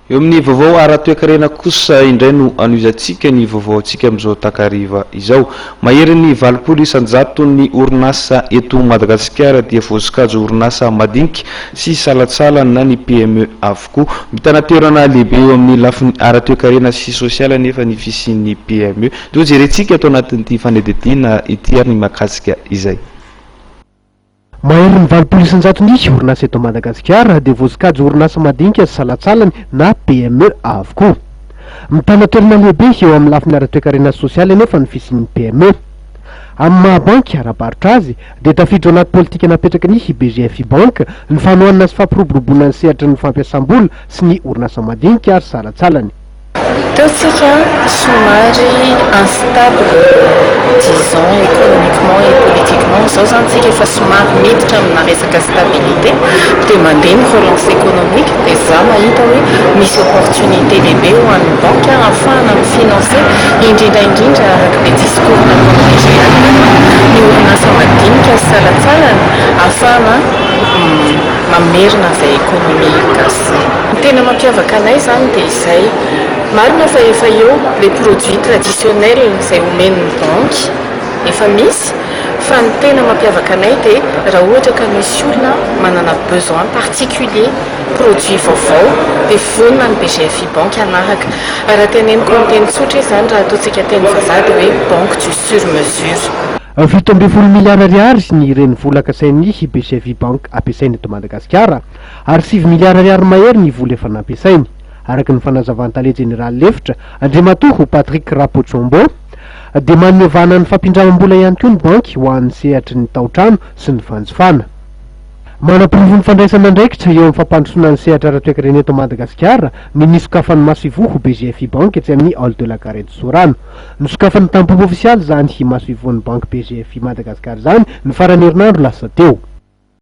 Eo amin'ny vaovao ara-toekarena kosa indray no anohizantsika ny vaovaontsika amin'izao takariva izao. Maherin'ny valopolo isan-jato ny orinasa eto Madagasikara dia voasokajy ho orinasa madinika sy salantsala na ny PME avokoa. Mitana toerana lehibe eo amin'ny lafiny ara-toekarena sy sosialy anefa ny fisian'ny PME. Toa jerentsika ato anatin'ity fanadihadiana ity ary ny mahakasika izay. Maherin'ny valopolo isan-jatony ny orinasa eto Madagasikara dia voasokajy ho orinasa madinika sy salantsalany na PME avokoa. Mitana toerana lehibe eo amin'ny lafiny ara-toekarena sy sosialy anefa ny fisian'ny PME. Amin'ny maha banky ara-barotra azy dia tafiditra ao anaty politika napetraky ny BGFI Bank ny fanohanana sy fampiroboroboana ny sehatry ny fampiasam-bola sy ny orinasa madinika ary salantsalany. Teo tsika somary instable disons économiquement et politiquement, izao izany tsika efa somary miditra amina resaka stabilité dia mandeha ny relance économique dia za mahita hoe misy opportunité lehibe ho an'ny banky ahafahana mi-financer indrindra indrindra araka ilay discours nataon'i DG Alema ny orinasa madinika sy salantsalany ahafahana mamerina izay économie gasy izay. Ny tena mampiavaka anay izany dia izay. Marina fa efa eo les produits traditionnels izay omen'ny banky, efa misy, fa ny tena mampiavaka anay dia raha ohatra ka misy olona manana besoin particulier produits vaovao dia vonona ny BGFI banky hanaraka. Raha teneniko amin'ny teny tsotra izy izany raha ataontsika teny vazaha dia hoe banque du sur mesure. Fito ambin'ny folo miliara ariary ny renivola kasain'ny BGFI banky ampiasaina eto Madagasikara. ary sivy miliara ariary mahery ny vola efa nampiasainy, araka ny fanazavan'ny tale jeneraly lefitra, Andriamatoa Patrick Rapotsombo, dia manome vahana ny fampindramam-bola ihany koa ny banky ho an'ny sehatry ny tao-trano sy ny fanjifana. Manaporofo ny fandraisana andraikitra eo amin'ny fampandrosoana ny sehatra ara-toekarena eto Madagasikara ny nisokafan'i Masoivoho ho BGFI Bank etsy amin'ny Hall de la Gare eto Sorano. Nosokafany tamim-pomba ofisialy izany i Masoivoho ny Banky BGFI Madagascar izany ny faran'ny herinandro lasa teo.